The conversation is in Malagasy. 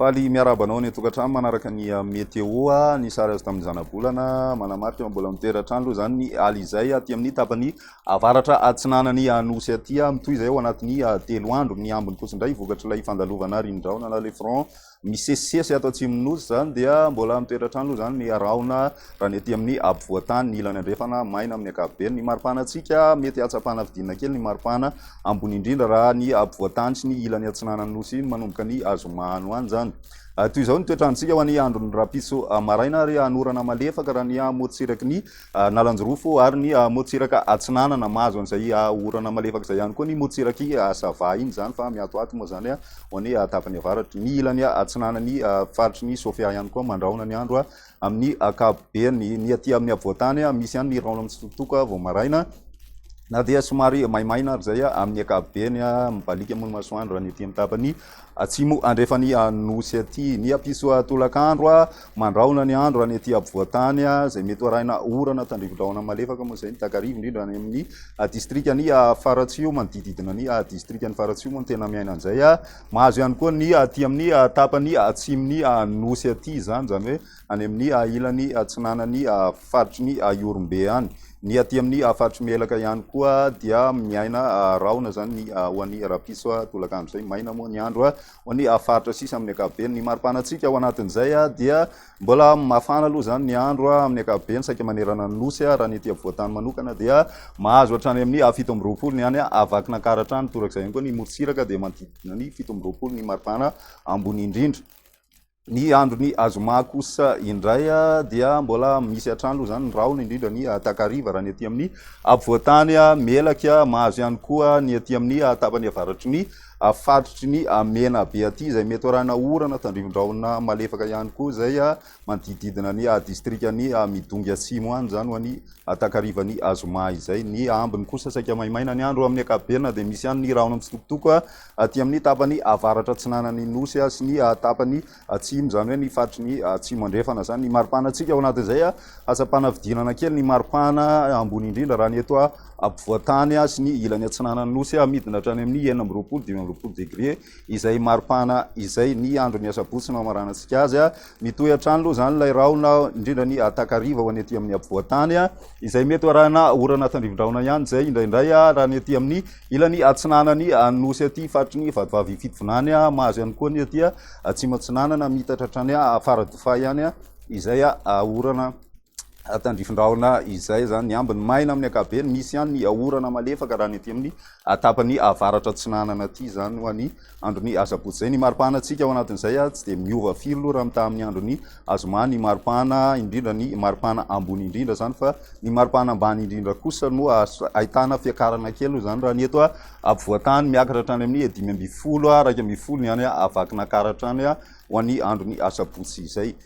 Faly miarahaba anao any an-tokantrano manaraka ny ah, météo. Ah, ny sary azo tamin'ny zanabolana manamarika mbola mitoeran-trano aloha izany ny aly izay aty ah, amin'ny tapany avaratra atsinanan'ny anosy aty. Mitohy izay ao anatin'ny telo andro. Ny ambiny fotsiny indray vokatr'ilay fandalovana rindraona na le front Misesisesy ato atsimon'ny Nosy izany dia mbola mitoetra-trano aloha izany ny rahona raha ny aty amin'ny ampovoan-tany, ny ilany andrefana maina amin'ny ankapobeny. Ny maripanan-tsika mety hahatsapana fidinana kely ny maripana ambony indrindra raha ny ampovoan-tany sy ny ilany atsinanan'ny Nosy iny manomboka ny azoma any ho any izany. Toy izao ny toetr'androntsika ho an'ny andron'ny rahampitso maraina ary hanorana malefaka raha ny amorontsiraky ny. Analanjirofo ary ny morontsiraka atsinanana. Mahazo an'izay orana malefaka izay ihany koa ny morontsirak'i Sava iny izany fa miatoato moa izany ho any tapany avaratra. Ny ilany atsinanan'ny faritry ny Sofia ihany koa mandrahona ny andro amin'ny ankapobeny. Ny aty amin'ny afovoan-tany, misy ihany ny rahona mitsitokotoko vao maraina na dia somary maimaina ary izay amin'ny ankapobeny. Mibaliaka moa ny masoandro raha ny aty amin'ny tapany. Atsimo andrefan'i Anosy aty. Ny Apisoa tolakandro a, mandrahona ny andro any aty apovoan-tany a, izay mety ho arahina orana tandrivo-drahona malefaka moa izay ny takariva, indrindra any amin'ny distrikan'i Faratsiho, manodidididina ny distrikan'i Faratsiho moa no tena miaina an'izay a. Mahazo ihany koa ny aty amin'ny tapany atsimon'i Anosy aty izany, izany hoe any amin'ny ilany atsinanan'ny faritry ny Ihorombe any. Ny aty amin'ny faritry Melaka ihany koa dia miaina rahona izany ny ho an'ny rapiso tolakandro izay. Maina moa ny andro ho an'ny faritra sisa amin'ny ankapobeny. Ny maripanantsika ao anatin'izay dia mbola mafana aloha izany ny andro amin'ny ankapobeny saika manerana ny nosy raha ny aty afovoantany manokana dia mahazo hatrany amin'ny fito amby roapolo ny any Vakinankaratra hatrany torak'izay ihany koa ny morontsiraka dia manodidina ny fito amby roapolo ny maripana ambony indrindra. Ny andron'ny azoma kosa indray dia mbola misy hatrany aloha izany ny rahona, indrindra ny takariva raha ny aty amin'ny afovoantany melaky. Mahazo ihany koa ny aty amin'ny tapany avaratry ny faritry ny Menabe aty, izay mety ho arahina orana, tandrivon-drahona malefaka ihany koa izay manodidididina ny distrikan'i Midongy atsimo any, izany ho an'ny takarivan'ny azoma izay. Ny ambiny kosa saika maimaina ny andro amin'ny ankapobeny na dia misy ihany ny rahona mitsitokotoko. aty amin'ny tapany avaratra atsinanan'ny Nosy sy ny tapany atsimo, izany hoe ny faritry ny Atsimo Andrefana izany. Ny maripahanantsika ao anatin'izay, hatsam-panavidianana kely ny maripahana ambony indrindra raha ny eto ampovoan-tany sy ny ilany atsinanan'ny Nosy, midina hatrany amin'ny enina amby roapolo, dimy amby roapolo degre izay maripana izay ny andron'ny asabotsy no hamaranantsika azy. Mitohy hatrany aloha izany ilay rahona, indrindra ny takariva ho any aty amin'ny afovoan-tany, izay mety ho arahina orana tandrivin-drahona ihany izay indraindray raha ny aty amin'ny ilany atsinanan'ny nosy aty faritry ny Vatovavy Fitovinany, mahazo ihany koa ny aty atsimo-atsinanana, miitatra hatrany Faradofay any izay orana. tandrifin-drahona izay izany. Ny ambiny maina amin'ny ankapobeny, misy ihany ny orana malefaka raha ny ety amin'ny tapany avaratra atsinanana ity izany ho an'ny andron'ny asabotsy izay. Ny maripahanantsika ao anatin'izay tsy dia miova firy loha raha mitaha amin'ny andron'ny zoma ny maripana, indrindra ny maripana ambony indrindra izany fa ny maripana ambany indrindra kosa no ahitana fiakarana kely loha izany raha ny eto ampovoantany miakatra hatrany amin'ny dimy ambin'ny folo, iraika ambin'ny folo ny any Vakinankaratra any ho an'ny andron'ny asabotsy izay.